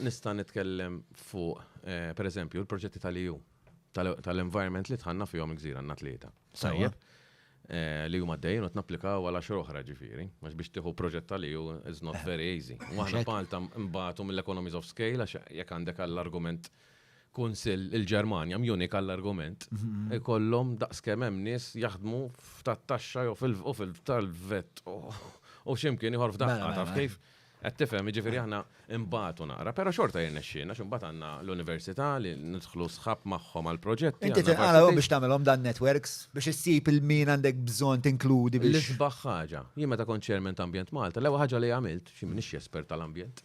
Nista' nitkellem fuq, per eżempju, l-proġetti tal-EU, tal-environment li tħanna fihom il-gżira għandna tlieta. Tajjeb. Li huma għaddejjin u tnapplikaw għal għaxar oħra ġifieri, għax biex tieħu proġett tal-EU is not very easy. U aħna b'Malta nbatu mill-economies of scale għax jekk għandek għall-argument kunsill il-Ġermanja, Munich għall-argument, ikollhom daqs kemm hemm nies jaħdmu f'tat-taxxa jew fil-tal-vet u x'imkien ieħor f'daqqa, taf kif? Qed tifhem, jiġifieri aħna nbatu naqra, però xorta jirnexxielna għax imbagħad għandna l-università li nidħlu sħab magħhom għall-proġetti. Inti tinqala' u biex tagħmilhom dan networks biex issib il-min għandek bżonn tinkludi biex. L-isbaħ ħaġa, jien meta kont chairman ta' Ambjent Malta, l-ewwel ħaġa li għamilt, xi m'iniex espert tal-ambjent,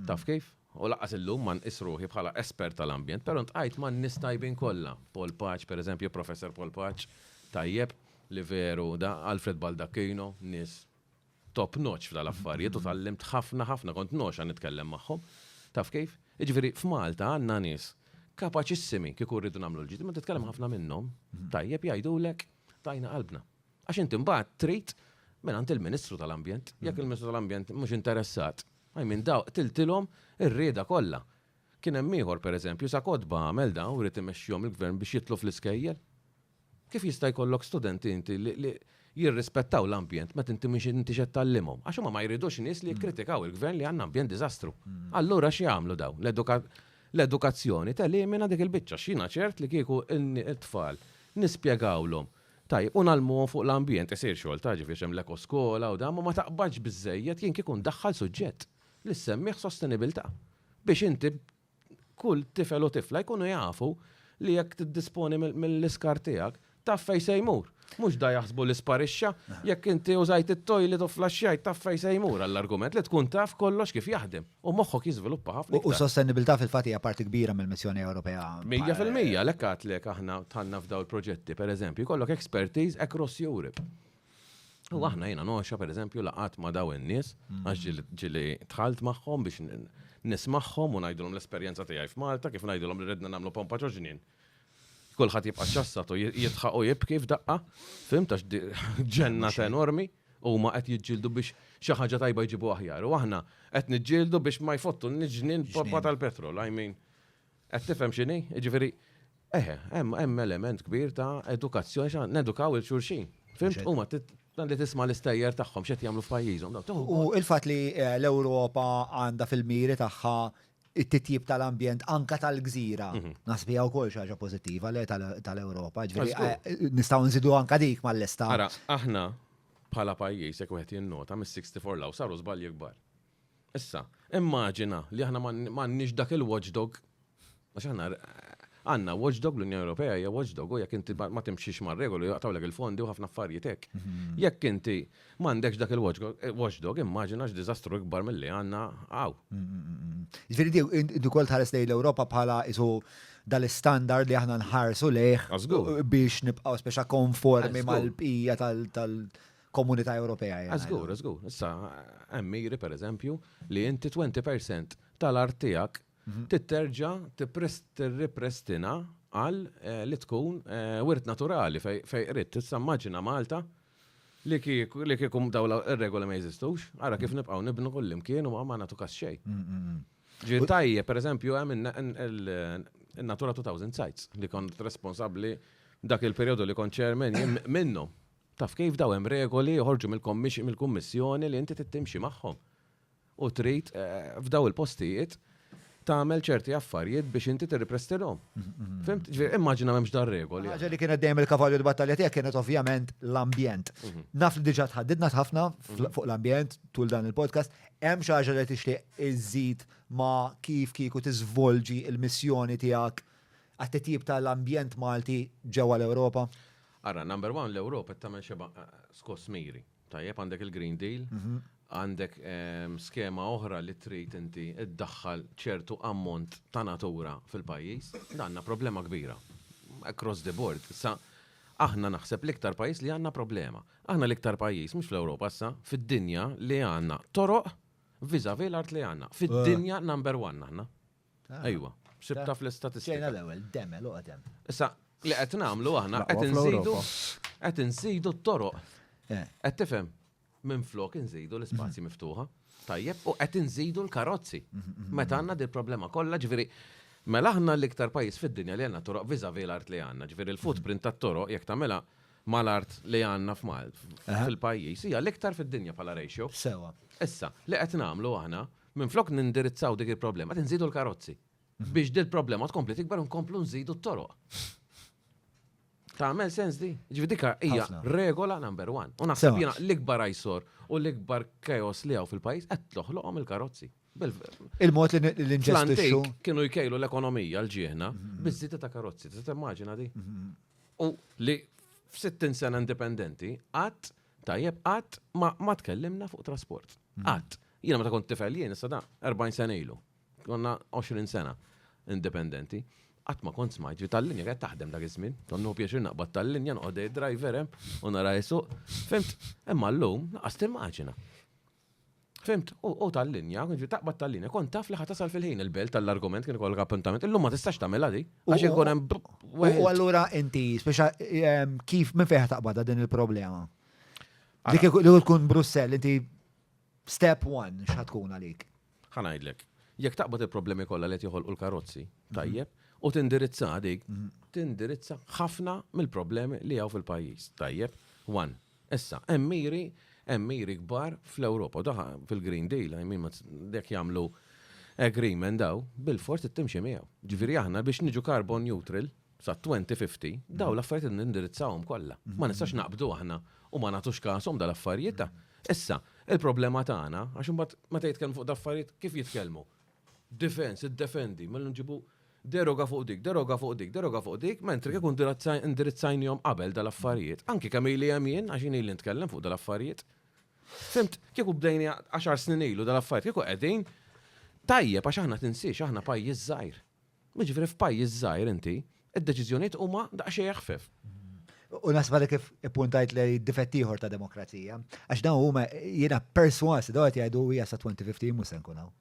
taf kif? U laqqas illum ma nqis ruħi bħala espert tal-ambjent, però ntqajt ma' nies tajbin kollha. Paul Paċ, pereżempju, Professor Paul Paċ, tajjeb li veru da Alfred Baldacchino, nies top notch f'dal affarijiet u tgħallimt ħafna ħafna kont ngħoxha nitkellem magħhom. Taf kif? Jiġifieri f'Malta għandna nies kapaċissimi kieku rridu nagħmlu l-ġid, imma titkellem ħafna minnhom, tajjeb jgħidulek tajna qalbna. Għax inti mbagħad trid minn għand il-Ministru tal-Ambjent, jekk il-Ministru tal-Ambjent mhux interessat, I mean daw qtiltilhom ir-rieda kollha. Kien hemm ieħor pereżempju sa kotba għamel daw rrid imexxihom il-gvern biex jitlu fl-iskejjel. Kif jista' jkollok studenti inti li jirrispettaw l-ambjent meta inti mhux intix qed tgħallimhom? Għax huma ma jridux nies li jikkritikaw il-gvern li għandna ambjent diżastru. Allura x'jagħmlu dawn? L-edukazzjoni telimina dik il-biċċa għax jiena ċert li kieku t-tfal nispjegawlhom tajjeb u ngħallmuhom fuq l-ambjent, isir xogħol ta' ġifieri għax hemm l-ekoskola u dan, ma ma taqbadx biżżejjed jien kieku ndaħħal suġġett li ssemmih sostenibilità biex inti kull tifel u tifla jkunu jafu li jekk tiddisponi mill-iskar tiegħek, taf fej se jmur. Mhux da jaħsbu li sparixxa, jekk inti użajt it-toilet u flaxxajt taf fej se jmur għall-argument li tkun taf kollox kif jaħdem u moħħok jiżviluppa ħafna iktar. U s-sostenibilità fil-fatt hija parti kbira mill-missjoni Ewropea. Mija fil-mija, għalhekk għedtlek aħna dħalna f'dawn il-proġetti, pereżempju, jkollok expertise across Europe. U mm. aħna jena noxa per eżempju laqat ma daw in-nies mm. għax ġili tħalt magħhom biex nismaħħom u ngħidulhom l-esperjenza tiegħi f'Malta kif ngħidulhom li redna nagħmlu pompa ġoġnin. Kulħadd jibqa' ċassat u jitħaq u jibki f'daqqa, fim tax ġennat enormi u ma qed jiġġieldu biex xi ħaġa tajba jġibu aħjar. U aħna qed niġġieldu biex ma jfottu n-ġnien tal-petrol, I mean. Qed tifhem x'inhi? Jiġifieri, eħe, hemm element kbir ta' edukazzjoni xa nedukaw il-xulxin. Fimt huma għandi tisma' l-istejjer tagħhom x'qed jagħmlu f'pajjiżhom. U l-fatt li eh, l-Ewropa għandha fil-miri tagħha it-titjib tal-ambjent anka tal-gżira. Mhm. Nasbi għaw kol xaġa pozittiva le tal-Europa. Eh, nistaw nżidu anka dik mal-lesta. Ara, aħna bħala pajjiż jekk wieħed jinnota mis-64 law saru żbalji kbar. Issa, immaġina li aħna m'għandniex dak il-watchdog, għax aħna għandna watchdog l-Unjoni Ewropea hija watchdog u jekk inti ma timxix mar-regoli jaqtawlek il-fondi u ħafna affarijiet hekk. Mhm. Jekk inti m'għandekx dak il-watchdog, immaġina x'diżastru ikbar milli għandna hawn. Mhm, mhm, Ġifieri di wkoll tħares lejn l-Ewropa bħala isu dal-istandard li aħna nħarsu lejh biex nibqgħu speċa konformi mal-bqija tal- komunità Ewropea. Ah, żgur, żgur. Issa hemm miri pereżempju li inti 20% tal-art tiegħek mhm. titterġa tirriprestina għal eh, li tkun eh, wirt naturali fej qrid. Tista' immaġina Malta li kiekum daw ir-regoli ma jeżistux, ara kif mhm. nibqgħu nibnu kullimkien u ma nagħtu kas xejn. Mm, mm, mm. Ġi tajje, per eżempju, hemm il-Natura 2000 sites li kont responsabbli dak il-perjodu li kont ċermen minnu. Taf kif, daw hemm regoli joħorġu mill-Kummissjoni li inti tittimxi magħhom. U trid eh, f'daw il-postijiet tagħmel ċerti affarijiet biex inti tirriprestilhom. Fimt? Ġifieri immaġina m'hemmx dar regoli. Ħaġa li kienet dejjem il-kavalju l-battalja tiegħek kienet ovvjament l-ambjent. Mhm. Naf li diġà tħaddidna ħafna mhm. fuq l-ambjent tul dan il-podcast, hemm xi ħaġa li tixtieq iżid ma' kif kieku tiżvolġi il-missjoni tiegħek għat-titjib tal-ambjent Malti ġewwa l-Ewropa? Ara, number one, l-Ewropa qed tagħmel xeba skoss miri. Tajjeb għandek il-Green Deal, mhm. għandek ehm, skema oħra li trid inti iddaħħal ċertu ammont ta' natura fil-pajjiż, għandna problema kbira. Across the board. Sa aħna naħseb l-iktar pajjiż li għandna problema. Aħna l-iktar pajjiż, mhux fl-Ewropa sa, fid-dinja li għandna toroq viżavi l-art li għandna. Fid-dinja eh. number one aħna. Ejwa, sibta fl-istatistika. Ġejna l-ewwel, demel uqdem. Issa, li qed nagħmlu aħna qed inżidu qed inżidu t-toroq. Eh. Qed tifhem? Minn flok inżidu l-ispazji mhm. miftuħa. Tajjeb, u qed inżidu l-karozzi. Mhm, mhm, Meta għandna dil problema kollha, ġifieri Mela aħna l-iktar pajjiż fid-dinja li għandna toroq viża vi l-art li għandna, ġifieri l-footprint tat-toroq jekk tagħmilha mal-art li għandna f'Mal fil-pajjiż hija l-iktar fid-dinja bħala ratio. Sewa. Issa, li qed nagħmlu aħna Minflok nindirizzaw dik il-problema, qed inżidu l-karozzi. Biex dil problema tkompli tikbar nkomplu nżidu t-toroq. Tagħmel sens di? Ġifi dika hija regola number one. U naħseb jiena l-ikbar ajsor u l-ikbar kajos li hawn fil-pajjiż qed toħloqhom il-karozzi. Il-mod li l-inġestixxu. Kienu jkejlu l-ekonomija l-ġieħna mhm. bizzita ta' karozzi, tista' timmaġina di. Mhm. U li f-60 sena indipendenti għad Tajjeb, qatt ma, ma tkellimna fuq trasport. Mm. Qatt. Jiena meta kont tifel jien issa da 40 sena ilu. Konna 20 sena indipendenti. Qatt ma kont smajt li tal-linja qed taħdem dak iż-żmien. Konnu pjaċir naqbad tal-linja noqgħod driver hemm u nara jisuq. Fimt? Imma llum laqas timmaġina. Fimt, u tal-linja, ġi taqbad tal-linja, kon taf li ħatasal fil-ħin il-belt tal-argument kien ikollok appuntament, illum ma tistax tagħmilha di, għax ikun hemm. U allura inti, speċa ehm, kif minn fejn taqbadha din il-problema? Dik li tkun Brussell, inti step one x'ħatkun għalik? Ħa ngħidlek, jekk taqbad il-problemi kollha li qed joħolqu l-karozzi, mhm. tajjeb, u tindirizza dik, mhm. tindirizza ħafna mill-problemi li hawn fil-pajjiż, tajjeb, one. Issa, hemm miri, hemm miri kbar fl-Ewropa, daħa fil-Green Deal, I mean, dek jagħmlu agreement daw, bil-fors it-timxi miegħu. Ġifieri aħna biex niġu carbon neutral, sa 2050, daw l-affarijiet nindirizzawhom kollha. Ma nistax naqbdu aħna u ma nagħtux kasom dal-affarijiet. Issa, il-problema tagħna, għax imbagħad meta jitkellmu fuq daffarijiet, kif jitkellmu? Difens, iddefendi, mela nġibu deroga fuq dik, deroga fuq dik, deroga fuq dik, mentri kif indirizzajnihom qabel dal-affarijiet. Anki kemm ili hemm jien, għax ili nitkellem fuq dal-affarijiet. Fimt, kieku bdejni 10 snin ilu dal-affarijiet, kieku qegħdin tajjeb għax aħna tinsiex, aħna pajjiż żgħir. Jiġifieri f'pajjiż żgħir inti, id-deċiżjonijiet huma daqsxejn eħfef. U naħseb li kif ippuntajt li difett ieħor ta' demokrazija, għax dawn huma jiena perswas daw qed jgħidu hija sa 2050 mhux se nkun hawn.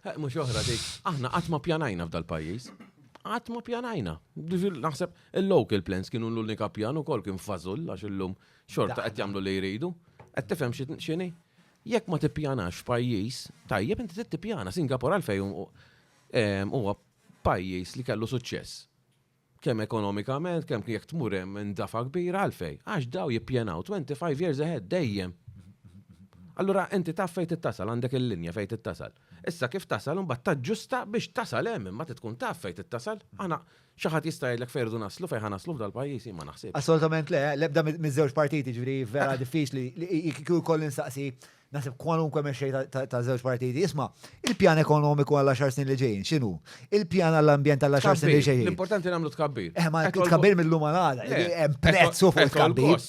Eh, mhux oħra dik, aħna qatt ma pjanajna f'dal-pajjiż. Qatt ma pjanajna. Naħseb il-local plans kienu l-unika pjan ukoll kien fażul għax illum xorta qed jagħmlu li jridu. Qed tifhem x'inhi? Jekk ma tippjanax pajjiż, tajjeb inti tippjana Singapore għalfejn Huwa pajjiż li kellu suċċess. Kemm ekonomikament, kemm jekk tmur hemm indafa kbira għalfej, għax daw jippjanaw 25 years ahead dejjem. Allura inti taf fejn tittasal, għandek il-linja fejn tittasal. Issa kif tasal imbagħad taġġusta biex tasal hemm imma trid tkun taf fejn tittasal. Aħna xi ħadd jista' jgħidlek fejn irridu naslu, fejn ħa naslu f'dal-pajjiż, jien ma naħsibx. Assolutament le, l-ebda miż-żewġ partiti, ġifieri vera diffiċli li kieku jkolli nsaqsi Naħseb kwalunkwe mexxej ta' żewġ partiti jisma' il-pjan ekonomiku għal għaxar snin li ġejjin x'inhu? Il-pjan għall-ambjent għal għaxar snin li ġejjin. L-importanti nagħmlu tkabbir. Eh, ma tkabbir mill-lum għal għada, eh, eh, hemm prezz fuq il-tkabbir.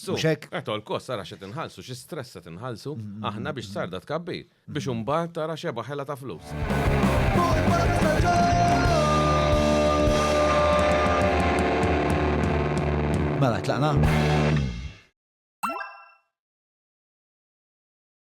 Qed kost ara xi tinħallsu, xi stress se tinħallsu, mm, mm, aħna mm, biex sarda tkabbir, biex imbagħad tara xeba ħela ta' flus. Mela, tlaqna.